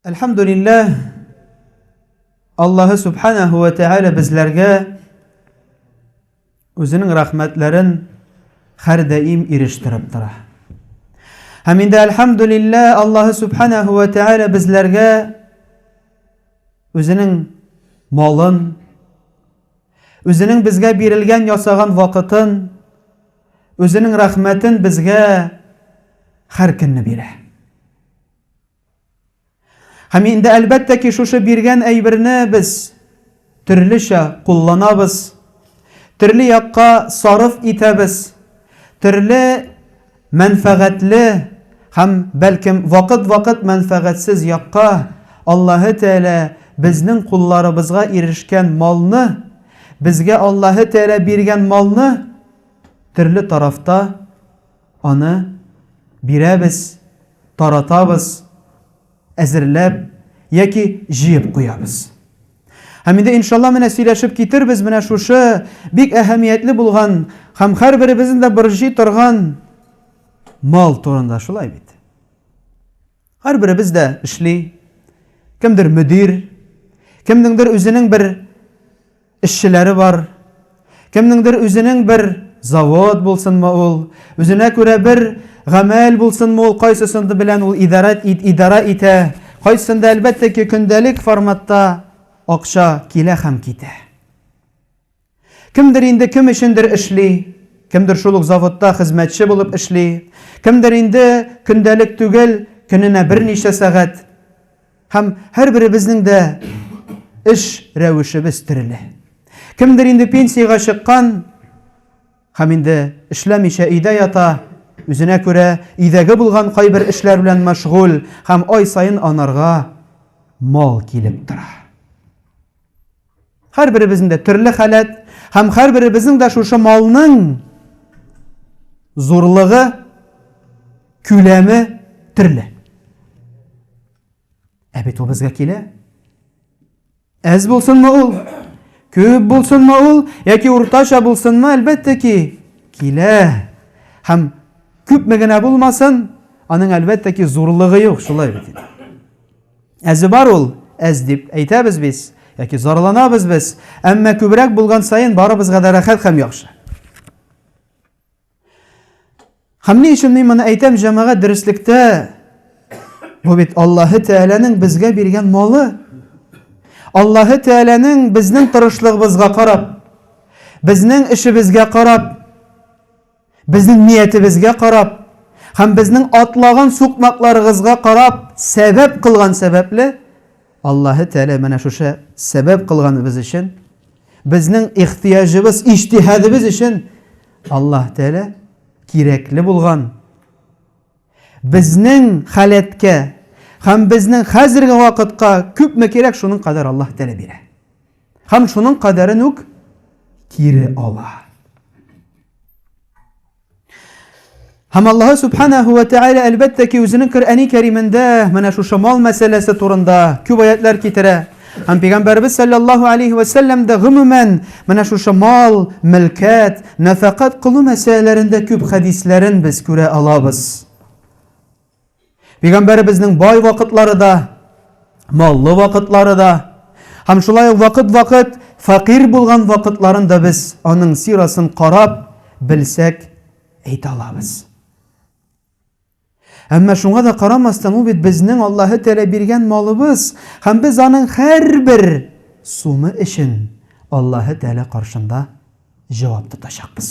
Әлхәмдулилләһ, Аллаһы Субханәһү вә Тәгалә безләргә Үзенең рәхмәтләрен хәрдәим ирештереп тора. Һәм инде әлхәмдүлиллә Аллаһы субханаһу ва тәгалә безләргә үзенең малын, үзенең безгә бирелгән ясаган вакытын, үзенең рәхмәтен безгә һәр көнне бирә. Һәм инде әлбәттә ки, шушы биргән әйберне без төрлечә кулланабыз, төрле якка сарыф итәбез, төрле мәнфәгатьле һәм, бәлкем, вакыт-вакыт мәнфәгатьсез якка Аллаһы Тәгалә безнең кулларыбызга ирешкән малны, безгә Аллаһы Тәгалә биргән малны төрле тарафта Аны бирәбез, таратабыз, әзерләп яки җыеп куябыз. Һәм инде иншалла менә сөйләшеп китербез менә шушы бик әһәмиятле булган һәм һәрберебезнең дә борҗый торган мал турында шулай бит. Һәрберебез дә эшли. Кемдер мөдир, кемнеңдер үзенең бер эшчеләре бар, кемнеңдер үзенең бер завод булсынмы ул, үзенә күрә бер гамәл булсынмы ул, кайсысын белән ул идарә ит, идарә итә, кайсында әлбәттә ки, көндәлек форматта акча килә һәм китә. Кемдер инде кем өчендер эшли, кемдер шул ук заводта хезмәтче булып эшли, кемдер инде көндәлек түгел, көненә берничә сәгать. Һәм һәрберебезнең дә эш рәвешебез төрле. Кемдер инде пенсиягә чыккан һәм инде эшләмичә өйдә ята, үзенә күрә идәге булган кайбер эшләр белән мәшгуль һәм ай саен анарга мал килеп тора. Һәрберебезнең дә төрле халәт һәм һәрберебезнең дә шушы малның зурлыгы, күләме төрле. Ә бит ул безгә килә. Әз булсынмы ул? Күп булсынмы ул? Яки уртача булсынмы? Әлбәттә ки, килә. Һәм күпме генә булмасын, аның әлбәттә ки зурлыгы юк, шулай бит. Әзе бар ул, әз дип әйтәбез без, яки зарланабыз без, әмма күбрәк булган саен барыбызга да рәхәт һәм яхшы. Һәм ни өчен мин моны әйтәм, җәмәгать дөреслектә бу бит Аллаһы Тәгаләнең безгә биргән малы. Аллаһы Тәгаләнең безнең тырышлыгыбызга карап, безнең эшебезгә карап, Безнең ниятебезгә карап һәм безнең атлаган сукмакларыгызга карап сәбәп кылган сәбәпле, Аллаһы Тәгалә менә шушы сәбәп кылганыбыз өчен, безнең ихтыяҗыбыз, иҗтиһадыбыз өчен Аллаһы Тәгалә кирәкле булган, безнең халәткә һәм безнең хәзерге вакытка күпме кирәк, шуның кадәр Аллаһы Тәгалә бирә. Һәм шуның кадәрен үк кире ала. Һәм Аллаһ Субханаһу ва Тәгалә әлбәттә ки үзенең Коръәни Кәримендә менә шушы мал мәсьәләсе турында күп аятлар китерә. Һәм пәйгамбәрбез саллаллаһу алейхи ва саллям да гомумән менә шушы мал, милкәт, нафакат кылу мәсьәләләрендә күп хәдисләрен без күрә алабыз. Пәйгамбәребезнең бай вакытлары да, маллы вакытлары да, һәм шулай ук вакыт-вакыт фәкыйрь булган вакытларын да без аның сирасын карап белсәк әйтә алабыз. Әмма шуңа да карамастан, ул бит безнең Аллаһы Тәгалә биргән малыбыз, һәм без аның һәрбер сумы өчен Аллаһы Тәгалә каршында җавап тотачакбыз.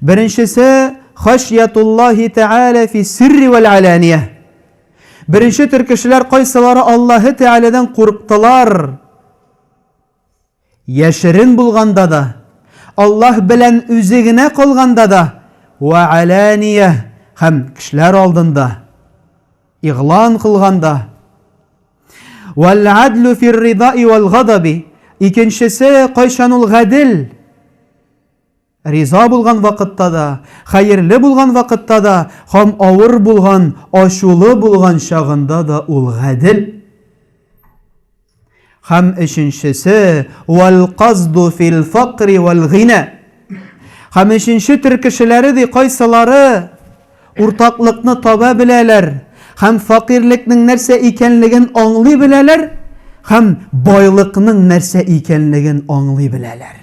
Беренчесе хашьятуллахи тәала фи сирри вәл алания. Беренче төр кешеләр кайсылары Аллаһы Тәгаләдән курыктылар? Яшерен булганда да, Аллаһ белән үзе генә калганда да, ва алания һәм кешеләр алдында игълан кылганда. Вал адлу фир ридаи вал гадаби. Икенчесе кайчан ул гадел? Риза булган вакытта да, хәерле булган вакытта да һәм авыр булган, ачулы булган чагында да ул гадел. Һәм өченчесе, вәл казду фил факри вәл гина. Һәм өченче төр кешеләре ди кайсылары уртаклыкны таба беләләр һәм факирлекнең нәрсә икәнлеген аңлый беләләр һәм байлыкның нәрсә икәнлеген аңлый беләләр.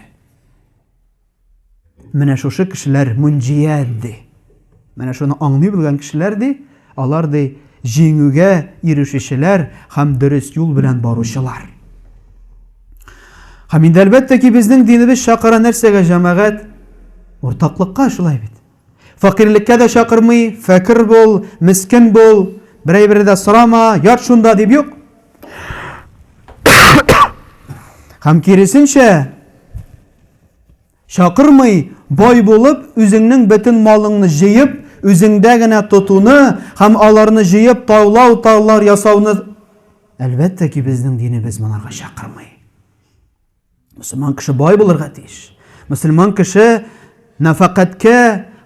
Менә шушы кешеләр мунҗия ди. Менә шуны аңлый белгән кешеләр ди, алар ди җиңүгә ирешүчеләр һәм дөрес юл белән баручылар. Һәм инде әлбәттә ки, безнең динебез чакыра нәрсәгә җәмәгать? Уртаклыкка шулай бит. Фәкыйрьлеккә дә чакырмый, фәкыр бул, мискен бул, берәй-бере дә сорама, ят шунда дип юк. Һәм киресенчә, чакырмый, бай булып, үзеңнең бөтен малыңны җыеп, үзеңдә генә тотуны һәм аларны җыеп таулау таулар ясауны әлбәттә ки безнең динебез монарга чакырмый Мөселман кеше бай булырга тиеш. Мөселман кеше нәфәкатькә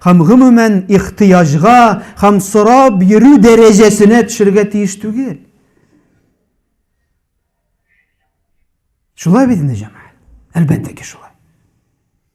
һәм гомумән ихтыяҗга һәм сорап йөрү дәрәҗәсенә төшергә тиеш түгел. Шулай бит инде җәмәгать. Әлбәттә ки шулай.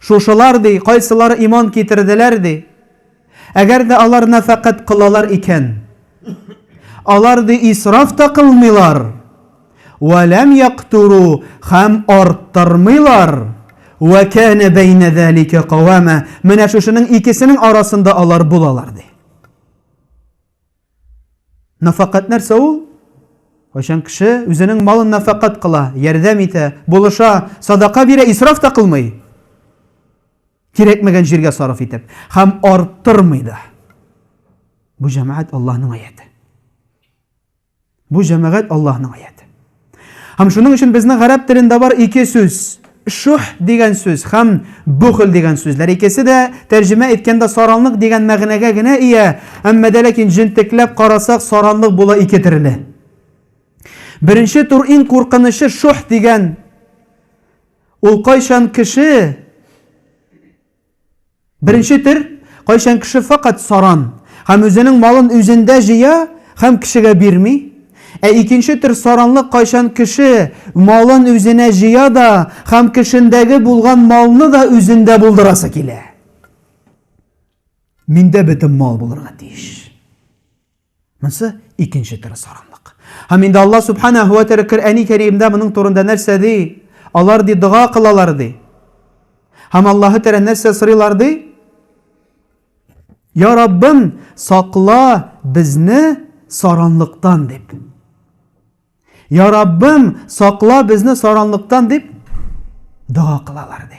Шушылар, ди, кайсылары иман китерделәр, ди. Әгәр дә алар нәфәкать кылалар икән, алар, ди, исраф та кылмыйлар, вә ләм яктуру, һәм арттырмыйлар, вә кәнә бәйнә зәликә кавама, менә шушының икесенең арасында алар булалар, ди. Нафакат нәрсә ул? Кайчан кеше үзенең малын нафакат кыла, ярдәм итә, булыша, садака бирә, исраф та кылмый, кирәкмәгән җиргә сарыф итеп, һәм арттырмый да. Бу җәмәгать Аллаһның аяте. Бу җәмәгать Аллаһның аяты. Һәм шуның өчен безнең гарәп телендә бар ике сүз, шух дигән сүз һәм бухл дигән сүзләр. Икесе дә тәрҗемә иткәндә саранлык дигән мәгънәгә генә ия, әмма дә ләкин җентекләп карасак, саранлык була ике төрле. Беренче тур иң куркынычы шух дигән. Ул кайчан кеше Беренче төр, кайчан кеше фәкать саран һәм үзенең малын үзендә җыя һәм кешегә бирми, ә икенче төр саранлык кайчан кеше малын үзенә җыя да һәм кешендәге булган малны да үзендә булдырасы килә. Миндә бөтен мал булырга тиеш. Монсы икенче төрле саранлык. Һәм инде Аллаһ Субханаһу ва Тәгалә Коръәни Кәримдә моның турында нәрсә ди? Алар ди дога кылалар ди. Һәм Аллаһы Тәгалә нәрсә сорыйлар ди? Я Раббым, сакла безне саранлыктан дип. Я Раббым, сакла безне саранлыктан дип дога кылалар ди.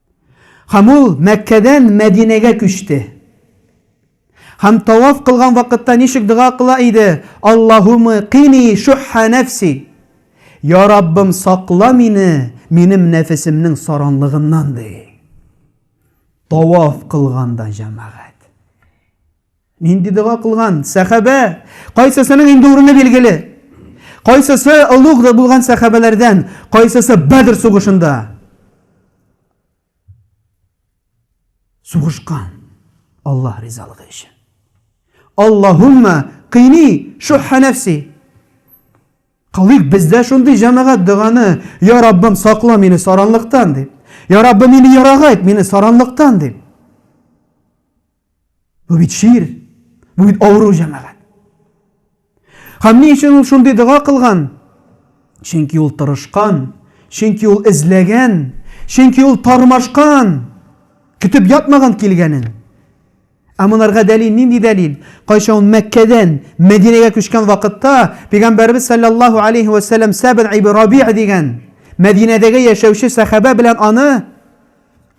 Һәм ул Мәккәдән Мәдинәгә күчте. Һәм таваф кылган вакытта ничек дога кыла иде, Аллаһумы кини шухха нәфси, Я Раббым, сакла мине минем нәфесемнең саранлыгыннан, ди. Таваф кылганда, җәмәгать. Нинди дога кылган? Сәхәбә. Кайсысының инде урыны билгеле. Кайсысы олуг да булган сәхәбәләрдән, кайсысы Бәдр сугышында. Сугышкан. Аллаһ ризалыгы өчен. Аллаһумма кыйни шухха нәфси. Кылыйк бездә шундый җәмәгать доганы, я Раббым, сакла мине саранлыктан дип. Я Раббым, мине ярагайт, мине саранлыктан дип. Бу бит шир, бу бит авыру җәмәгать. Һәм ни өчен ул шундый дога кылган? Чөнки ул тырышкан, чөнки ул эзләгән, чөнки ул тармашкан, көтеп ятмаган килгәнен. Ә монарга дәлил нинди дәлил? Кайчан ул Мәккәдән Мәдинәгә күчкән вакытта Пәйгамбәрбез саллаллаһу алейхи ва саллям Сәбр ибн Раби'а дигән Мәдинәдәге яшәүче сәхабә белән аны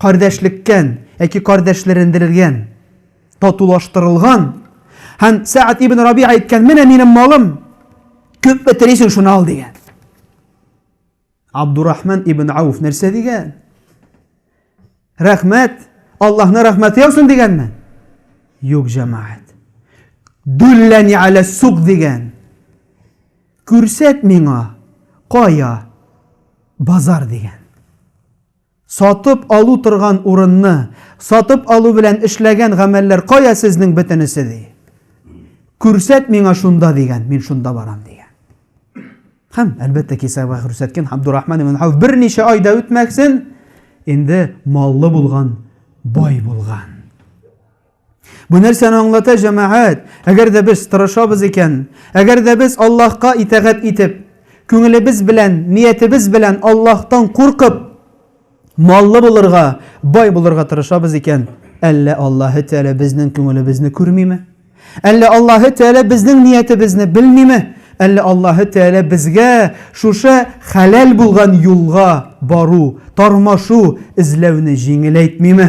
кардәшлеккән яки кардәшләрендерелгән, татулаштырылган, һәм Сәәд ибн Рабига әйткән, менә минем малым, күпме телисең, шуны ал, дигән. Абдурахман ибн Ауф нәрсә дигән? Рәхмәт, Аллаһны рәхмәте яусын дигәнме? Юк, җәмәгать. Дүлләни әлә сук дигән. Күрсәт миңа, кая базар дигән. Сатып алу торган урынны сатып алу белән эшләгән гамәлләр кая сезнең бөтенесе, ди. Күрсәт миңа шунда, дигән, мин шунда барам, дигән. Һәм, әлбәттә, кисәгә күрсәткән Габдурахман ибн Хауф берничә ай да үтмәсен, инде маллы булган, бай булган. Бу нәрсәне аңлата җәмәгать. Әгәр дә без тырышабыз икән, әгәр дә без Аллаһка итагать итеп, күңелебез белән, ниятебез белән Аллаһтан куркып, маллы булырга, бай булырга тырышабыз икән, әллә Аллаһы Тәгалә безнең күңелебезне күрмиме? Әллә Аллаһы Тәгалә безнең ниятебезне белмиме? Әллә Аллаһы Тәгалә безгә шушы хәләл булган юлга бару, тормашу, эзләүне җиңеләйтмиме?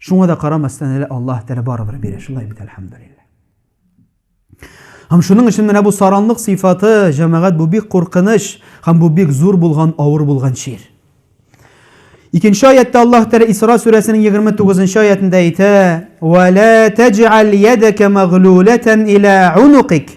Шуңа да карамастан әле Аллаһ Тәгалә барыбер бирә, шулай бит, әлхәмдулиллаһ. Һәм шуның өчен менә бу саранлык сыйфаты, җәмәгать, бу бик куркыныч һәм бу бик зур булган, авыр булган чир. Икенче аятта Аллаһ Тәгалә Исра сүрәсенең 29 нчы аятында әйтә: "Ва ла таҗал ядака маглулатан ила унукик".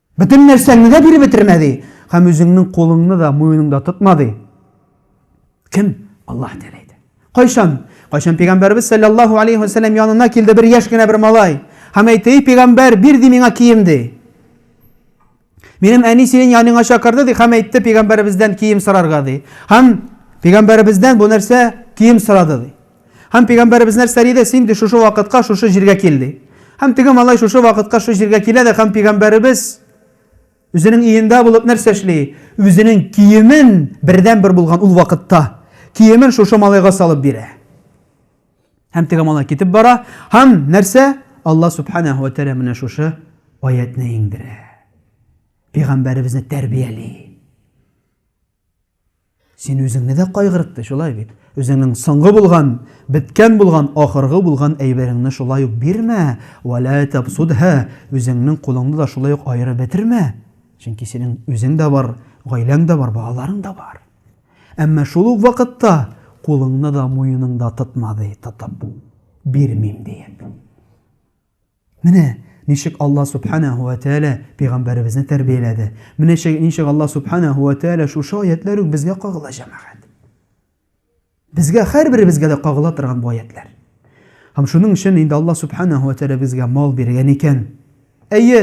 Бөтен нәрсәңне дә биреп бетермә, ди, һәм үзеңнең кулыңны да, муеныңда тотма, ди. Кем? Аллаһ Тәгалә әйтә. Кайчан? Кайчан пәйгамбәрбез саллаллаһу алейхи ва саллям янына килде бер яшь кенә бер малай. Һәм әйтте, "Эй пәйгамбәр, бир ди миңа кием", ди. Минем әни синең яныңа чакырды, ди, һәм әйтте пәйгамбәребездән кием сорарга, ди. Һәм пәйгамбәребездән бу нәрсә кием сорады, ди. Һәм пигамбәребез нәрсә диде? Син ди шушы вакытка, шушы җиргә кил ди. Һәм теге малай шушы вакытка, шушы җиргә килә дә һәм пигамбәребез үзенең өендә булып нәрсә эшли? Үзенең киемен бердән бер булган ул вакытта киемен шушы малайга салып бирә. Һәм теге малай китеп бара. Һәм нәрсә? Алла субханаһу ва тәгалә менә шушы аятны иңдерә. Пигамбәребезне тәрбияли. Син үзеңне дә кайгыртты, шулай бит? Үзеңнең соңгы булган, беткән булган, ахыргы булган әйбереңне шулай ук бирмә, вәлә табсудһа, үзеңнең кулыңны да шулай ук аерып бетермә. Чөнки синең үзең дә бар, гаиләң дә бар, балаларың да бар. Әмма шул ук вакытта кулыңны да, муеныңда тотма, ди, тотып, бирмим диеп. Менә ничек Алла Субханәһу вә Тәгалә пәйгамбәребезне тәрбияләде. Менә ничек Алла Субханәһу вә Тәгалә шушы аятьләр үк безгә кагыла, җәмәгать. Безгә һәрберебезгә дә кагыла торган бу аятьләр. Һәм шуның өчен инде Алла Субханәһу вә Тәгалә безгә мал биргән икән. Әйе,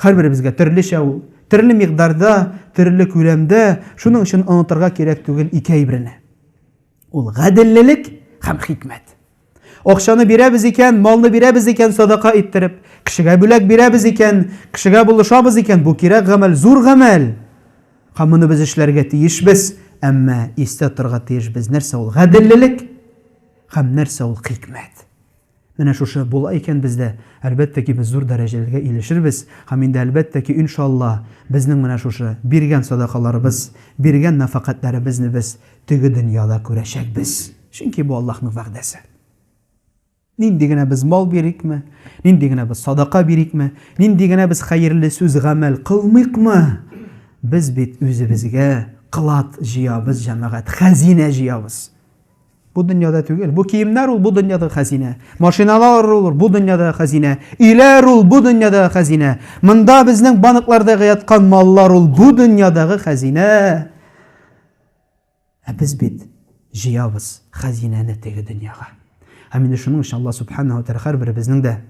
һәрберебезгә төрлечә ул, төрле микъдарда, төрле күләмдә, шуның өчен онытырга кирәк түгел ике әйберне. Ул гаделлелек һәм хикмәт. Акчаны бирәбез икән, малны бирәбез икән садака иттереп, кешегә бүләк бирәбез икән, кешегә булышабыз икән, бу кирәк гамәл, зур гамәл. Һәм моны без эшләргә тиешбез, әмма истә торырга тиешбез, нәрсә ул гаделлелек һәм нәрсә ул хикмәт. Менә шушы була икән бездә, әлбәттә ки, без зур дәрәҗәләргә илешербез, һәм инде әлбәттә ки, иншалла, безнең менә шушы биргән садакаларыбыз, биргән нәфакатьләребезне без теге дөньяда күрәчәкбез, чөнки бу Аллаһның вәгъдәсе. Нинди генә без мал бирикме, нинди генә без садака бирикме, нинди генә без хәерле сүз, гамәл кылмыйкмы, без бит үзебезгә клад җыябыз, җәмәгать, хәзинә җыябыз. Бу дөньяда түгел. Бу киемнәр ул бу дөньяда хәзинә. Машиналар ул бу дөньяда хәзинә. Өйләр ул бу дөньяда хәзинә. Монда безнең банкларда яткан маллар ул бу дөньядагы хәзинә. Ә без бит җыябыз хәзинәне теге дөньяга. Һәм инде шуның өчен Алла субханаһу тәгалә һәрберебезнең дә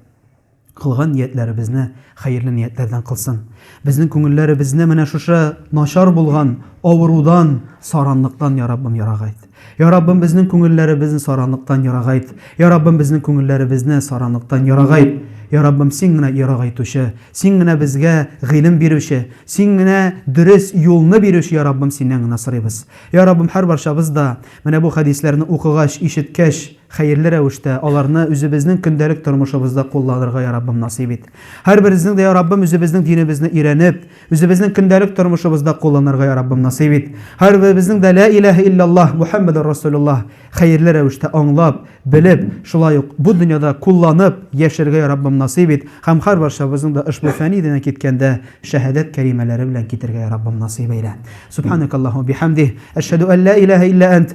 Кылган ниятләребезне хәерле ниятләрдән кылсын. Безнең күңелләребезне менә шушы начар булган авырудан, саранлыктан, я Раббым, ярагайт. Я Раббым, безнең күңелләребезне саранлыктан ярагайт. Я Раббым, безнең күңелләребезне саранлыктан ярагайт. Я Раббым, син генә ярагайтучы, син генә безгә гыйлем бирүче, син генә дөрес юлны бирүче, я Раббым, синнән генә сорыйбыз. Я Раббым, һәрбарчабыз да менә бу хәдисләрне укыгач, ишеткәч, Хәерле рәвештә, аларны үзебезнең көндәлек тормышыбызда кулланырга я Раббым насыйп ит. Һәрберебезнең дә, я Раббым, үзебезнең динебезне өйрәнеп, үзебезнең көндәлек тормышыбызда кулланырга я Раббым насыйп ит. Һәрберебезнең дә Лә иләһә илляллаһ Мухәммәдүр Расулюллаһ хәерле рәвештә аңлап, белеп, шулай ук бу дөньяда кулланып яшәргә я Раббым насыйп ит һәм һәрбарчабызның да ошбу фәни дөньядан киткәндә шәһәдәт кәлимәләре белән китәргә я Раббым насыйп әйлә. Субханакаллаһу ва бихәмдих, әшһәдү ан лә иләһә илля әнт,